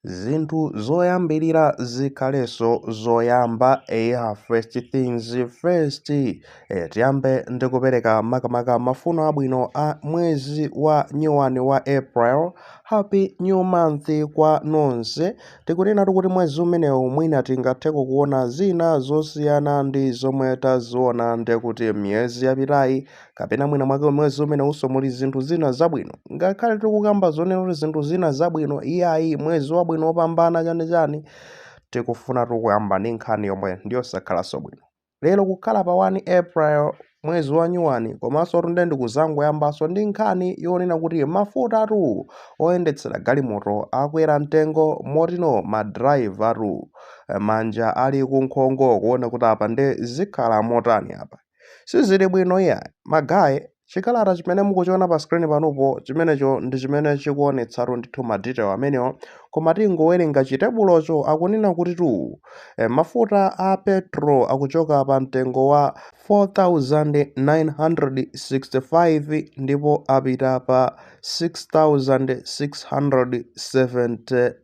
zinthu zoyambirira zikhalenso zoyamba eya first things first e, tiyambe ndi kupereka makamaka mafuno abwino a mwezi wa nyuwani wa april happy new month kwa nonse tikunenatu kuti mwezi umenewu mwina tingatheko kuona zina zosiyana ndi zomwe taziona ndekuti miyezi yapitayi kapena mwina mwake mwezi umenewunso muli zinthu zina zabwino ngakhale tikukamba zonena kuti zinthu zina zabwino iyayi mwezi wabwino wopambana chanichani tikufuna tikuyamba ndi nkhani yomwe ndiyosakhalanso bwino lero kukhala pa 1 april mwezi wa nyuwani komanso tu nde ndikuzangoyambanso ndi nkhani yonena kuti mafuta atu oyendetsera galimoto akwera mtengo motino madrayiva atu manja ali kunkhongo kuona kuti apa nde zikhala motani apa Sizili bwino iyayi. Magaye, chikalata chimene mukuchiona pa screen panupo, chimenecho ndi chimene chikuonetsatu ndithu ma detail amenewo, koma tingowerenga chitebulocho, akunena kutitu eh, mafuta a petro akuchoka pa mtengo wa 4,965 ndipo apita pa 6,670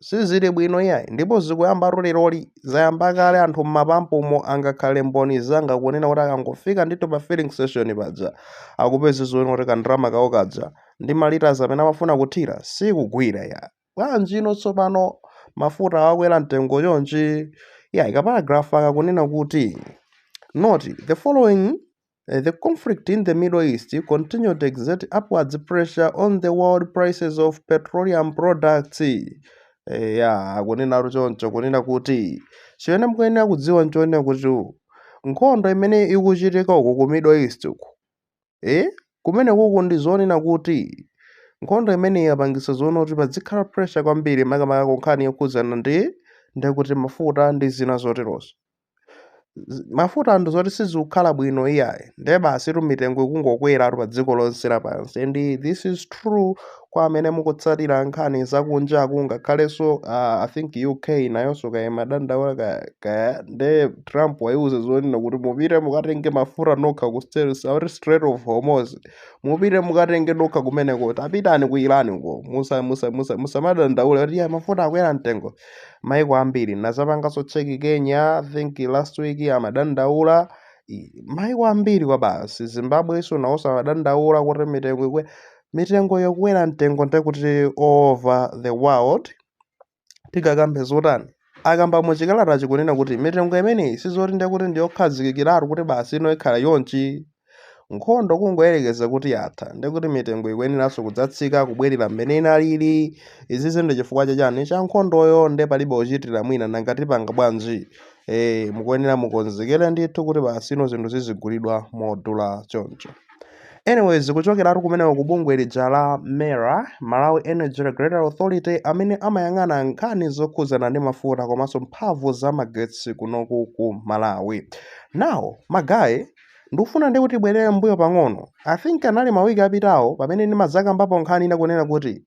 sizili bwino iyayi ndipo zikuyambatu leroli zayamba kale anthu mmapampumo angakhale mboni zanga kunena kuti akangofika ndithu pa filling station paja akupeza zoona kuti kandalama kawo kaja ndi malitas amene amafuna kuthira sikugwira iyayi bwanji ino tsopano mafuta akwera mtengo chonchi iyayi kaparagrafu akakunena kuti note the following The conflict in the Middle East continue to exert upwards pressure on the world prices of petroleum products. Eya, akunena kuti choncho kunena kuti chimene mukuyenera kudziwa nchonena kuti nkhondo imene ikuchitika uku ku Middle East uku eh kumene kuku ndi zonena kuti nkhondo imene yapangitsa zoona kuti padzikhala pressure kwambiri makamaka ku nkhani yokhudzana ndi ndikuti mafuta ndi zina zoterozo. mafuta ndi zoti sizikukhala bwino iyayi ndiye basi tu mitengo ikungokwera pa dziko lonse lapansi and this is true kwa amene mukutsatira nkhani zakunjaku ngakhalenso uh, i think uk nayonso kaya imadandaula ka- kaya nde trump wayiuza zonena kuti mupite mukatenge mafuta nokha ku Strait- South Strait of hormuz mupite mukatenge nokha kumeneko tapitani ku iran uko musa musa musa musamadandaule kuti iyayi mafuta akwera mtengo maiko ambiri nazapanganso cheki kenya I think last week amadandaula I- maiko ambiri kwa basi zimbabwe iso nawonso amadandaula kuti mitengo ikwe mitengo yokwera mtengo ndekuti over the world tikakambe zotani akamba muchikalatachi kunena kuti mitengo imeneyi sizoti ndekuti ndiyokhazikikiratu kuti basi ino ikhala chonchi Nkhondo kungoyerekeza kuti yatha, ndiye kuti mitengo ikuyeneranso kudzatsika kubwerera mmene inalili. Izizi ndi chifukwa cha chani? Cha nkhondoyo, ndiye palibe ochitira mwina, nanga tipanga bwanji? Eh, mukuyenera mukonzekere ndithu kuti pano zinthu zizigulidwa modula choncho. Anyways, kuchokeratu kumeneku ku bungwe lija la MERA, Malawi Energy Regulatory Authority, amene amayang'ana nkhani zokhudzana ndi mafuta komanso mphamvu za magetsi kunoku ku Malawi. Now, magaye, Ndikufuna ndikubwezereni mmbuyo pang'ono, I think anali mawiki apitawo pamene ndimadzakambapo nkhani ina kunena kuti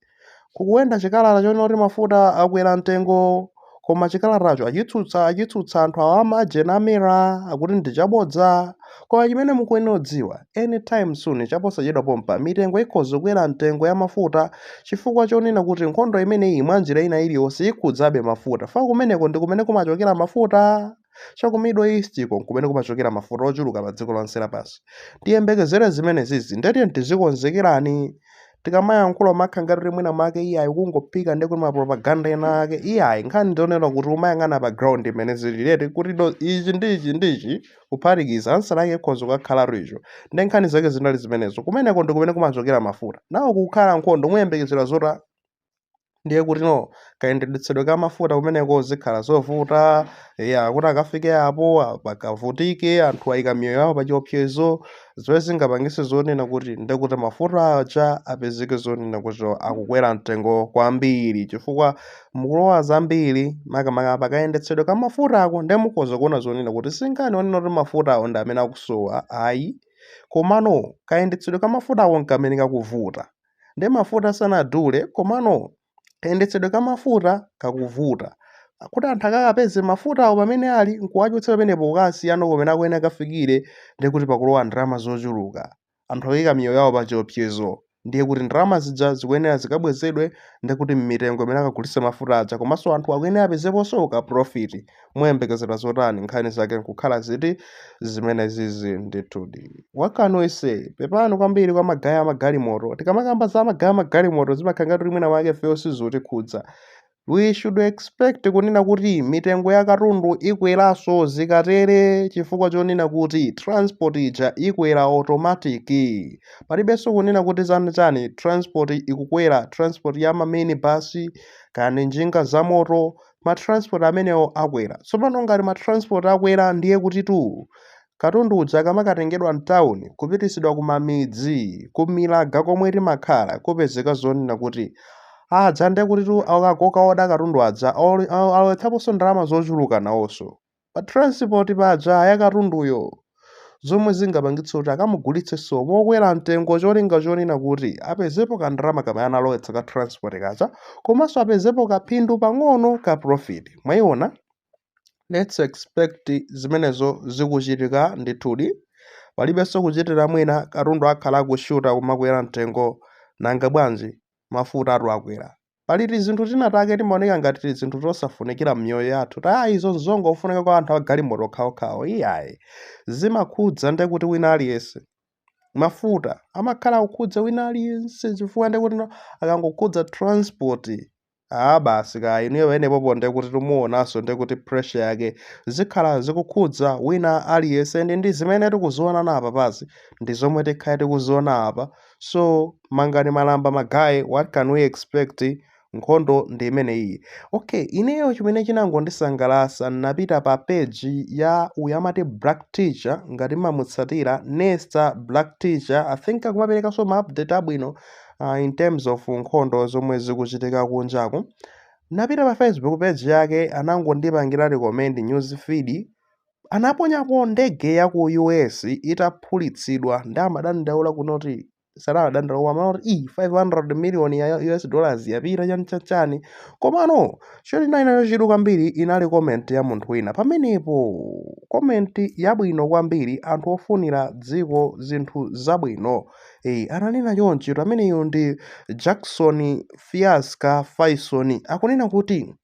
kukuenda chikalata chonena kuti mafuta akwera mtengo koma chikalatacho achitsutsa anthu awa amajena a MERA akuti ndi chabodza. Koma chimene mukuyenera kudziwa, any time soon chaposachedwa pompa mitengo ikhoza kukwera mtengo ya mafuta chifukwa chonena kuti nkhondo imeneyi mwanjira ina iliyonse ikhudzabe mafuta chifukwa kumeneko ndi kumene kumachokera mafuta. Cha ku Middle East-ko n'kumene kumachokera mafuta ochuluka padziko lonse lapansi. Tiyembekezere zimenezizi, ndiye tiyeni tizikonzekerani. Tikamayankhula umakhala ngati kuti mwina mwake iyayi ukungophika ndiye kuti mapropaganda ena ake. Iyayi, nkhani ndi yonena kuti umayang'ana pa ground mmene zilili eti kuti no ichi ndi ichi ndi ichi kuphatikiza ansala yake ikhoza kukakhala icho. Ndi nkhani zake zinali zimenezo. Kumeneko ndi kumene kumachokera mafuta. Now kukhala nkhondo muyembekezera zota ndiye kuti no kayendetsedwe ka mafuta kumeneko zikhala zovuta ya kuti akafike apo pakavutike anthu ayika miyoyo yawo pa chiopsezo zomwe zingapangitse zonena kuti ndiye kuti mafuta aja apezeke zonena kuti akukwera mtengo kwambiri chifukwa mukulowa zambiri makamaka pakayendetsedwe ka mafuta ako ndiye mukhoza kuona zonena kuti si nkhani yonena kuti mafutawo ndi amene akusowa ayi komano kayendetsedwe ka mafutako nkamene kakuvuta nde mafuta sanadule komano kayendetsedwe ka mafuta kakuvuta kuti anthu akakapeze mafutawo pamene ali nkuwachotsa pamenepo kukawasiyano kumene akuyenera akafikire ndiye kuti pakulowa ndalama zochuluka anthu akuyika miyoyo yawo pa chiopsezo ndiye kuti ndalama zija zikuyenera zikabwezedwe ndiye kuti mmitengo imene akagulitse mafuta aja komanso anthu akuyenera apezeponso ka profit muyembekezera zotani nkhani zake nkukhala ziti zimenezizi ndithudi what can we say pepani kwambiri kwa magaye amagalimoto tikamakamba za magaye amagalimoto zimakhala ngati kuti mwina mwake ifeyo sizutikhudza we should expect kunena kuti mitengo ya katundu ikweranso zikatere chifukwa chonena kuti transport ija ikwera automatic palibenso kunena kuti tani tani transport ikukwera transport ya maminibus kaya njinga zamoto ma transport amenewo akwera tsopano ngati ma transport akwera ndiye kutitu katundu uja akamakatengedwa mtawuni kupititsidwa kumamidzi kumilaga komwe timakhala kupezeka zonena kuti aja ndiye kutitu akangokaoda katundu aja alowetsaponso ndalama zochuluka nawonso pa transport paja ya katunduyo zomwe zingapangitse kuti akamugulitsenso mokwera mtengo cholinga chonena kuti apezepo kandalama kamene analowetsa ka transport kaja komanso apezepo kaphindu pang'ono ka profit mwayiona let's expect zimenezo zikuchitika ndithudi palibenso kuchitira mwina katundu akhala akushuta kumakwera mtengo nanga bwanji mafuta atu akwera Pali tizinthu tina take timaoneka ngati tizinthu tosafunikira m'miyoyo yathu, ati ah, izo n'zongofunika kwa anthu a galimoto okhaokhawo. Iyayi. Zimakhudza ndiye kuti wina aliyense. Mafuta amakhala akukhudza wina aliyense chifukwa ndiye kuti no- akangokhudza transport ah basi kaya inuyo penepopo ndiye kuti timuonanso ndiye kuti pressure yake zikhala zikukhudza wina aliyense ndi ndi zimene tikuziona na apapazi ndi zomwe tikhale tikuziona apa so mangani malamba magaye what can we expect nkhondo ndi imene iyi okay ineyo chimene chinangondisangalasa napita pa page ya uyu amati black teacher ngati mumamutsatira nesta black teacher i think akumaperekanso ma update abwino uh, in terms of nkhondo zomwe zikuchitika kunjaku napita pa facebook page yake anangondipangira recommend news feed anaponyapo ndege ya ku US itaphulitsidwa nde amadandaula kunoti sanadandaula koma amati "Ih, 500 million ya US dollars yapita chani chani chani komano chondinayitsa chidwi kwambiri inali comment ya munthu wina pamenepo comment yabwino kwambiri anthu ofunira dziko zinthu zabwino Eh, ananena chonchi kuti ameneyo ndi Jackson Fiasca Faison akunena kuti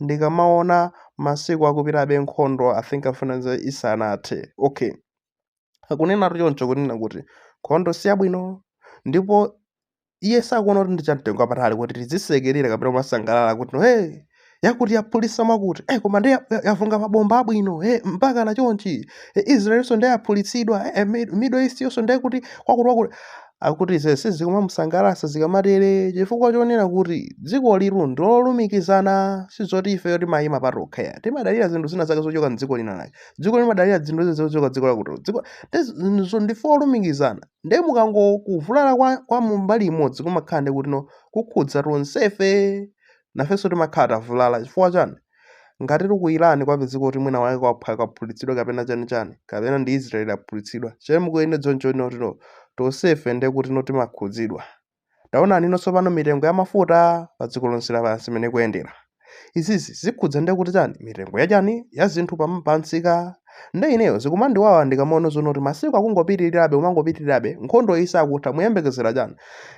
ndikamaona masiku akupitabe nkhondo i think afa nzanga isanathe okay akunenatu choncho kunena kuti nkhondo siyabwino ndipo iye sakuona kuti ndi chamtengo wapatali kuti tizisekerera kapena kumasangalala kuti no hey yakuti yaphulisa makuti eh koma nde yavunga mabomba abwino eh mpaka na chonchi eh, israelinso nde yaphulitsidwa eh, eh, Mid- middle east yonso ndi kuti kwakuti kwakuti akuti ze sizikumamusangalatsa zikamatere chifukwa chonena kuti dziko lilitu ndilolumikizana sizoti ifeyo timayima patokha ya timadalira zinthu zina zake zochoka mdziko lina lake dziko limadalira zinthu zina zochoka dziko lakuti dziko ndi- so ndife olumikizana nde mukango kuvulala kwa, kwa mumbali imodzi kumakhala nde kuti no kukhudza tonsefe nafenso timakhala tavulala chifukwa chani Ngati ku Iran kwapezeka kuti mwina wake kwaphulitsidwa kapena chani chani kapena ndi Israel aphulitsidwa che mukuona choncho no ti no tonsefe nde kuti no timakhudzidwa. Taonani no tsopano mitengo ya mafuta pa dziko lonse lapansi mene ikuendera. Izizi zikhudza nde kuti chani mitengo ya chani ya zinthu pa, pa msika nde ineyo zikumandiwawa ndikamaona zoona kuti masiku akungopitirirabe kumangopitirirabe nkhondo iyi sakutha muyembekezera chani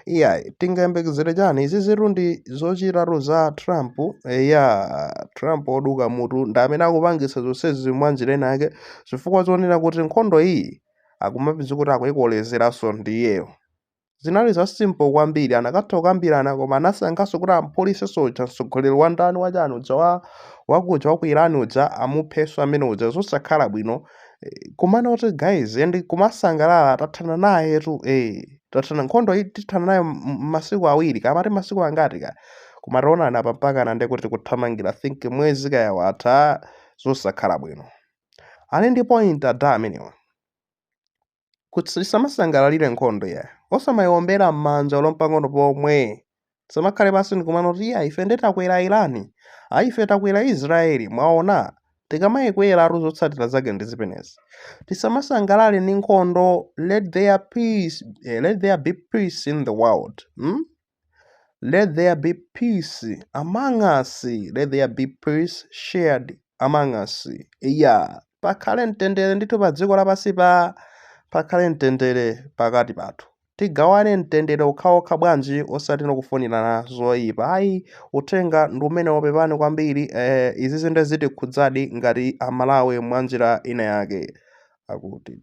iyayi tingayembekezere chani izizitu ndi zochitatu za trump eya trump oduka mutu ndi amene akupangitsa zonsezi mwanjira ina yake chifukwa chonena kuti nkhondo iyi akumapezeka kuti akuikolezeranso ndi iyeyo zinali za simple kwambiri anakatha kukambirana koma anasankhanso kuti amphulitse soja mtsogoleri wa ndani wachani uja wa wakuja wa ku Iran uja amuphenso amene uja zosakhala bwino Eh, kumana kuti guys and kumasangalala tathana nayetu eh tathana nkhondo iyi tithana nayo m- m- masiku awiri kaya amati masiku angati kaya koma taonani apa mpakana ndekuti tikuthamangira think mwezi kaya watha zosakhala bwino ali ndi point ada amenewa kuti tisamasangalalire nkhondo iyayi osamayiwombera m'manja olo mpang'ono pomwe tisamakhale pansi ndikumanena kuti iya ife nde takwera irani ayi ife takwera israeli mwaona tikamayikweratu zotsatira zake ndi zimenezi tisamasangalale ndi nkhondo let there be peace eh, let there be peace in the world hmm? Let there be peace among us. Let there be peace shared among us. Iya, pakhale mtendere ndithu pa dziko lapansi pa pakhale mtendere pakati pathu. Tigawane mtendere okhaokha bwanji osati kufunirana zoyipa. Ayi, uthenga ndi umenewo pepani kwambiri eh, izi zinthu zitikhudzadi ngati Amalawi mwa njira ina yake akuti.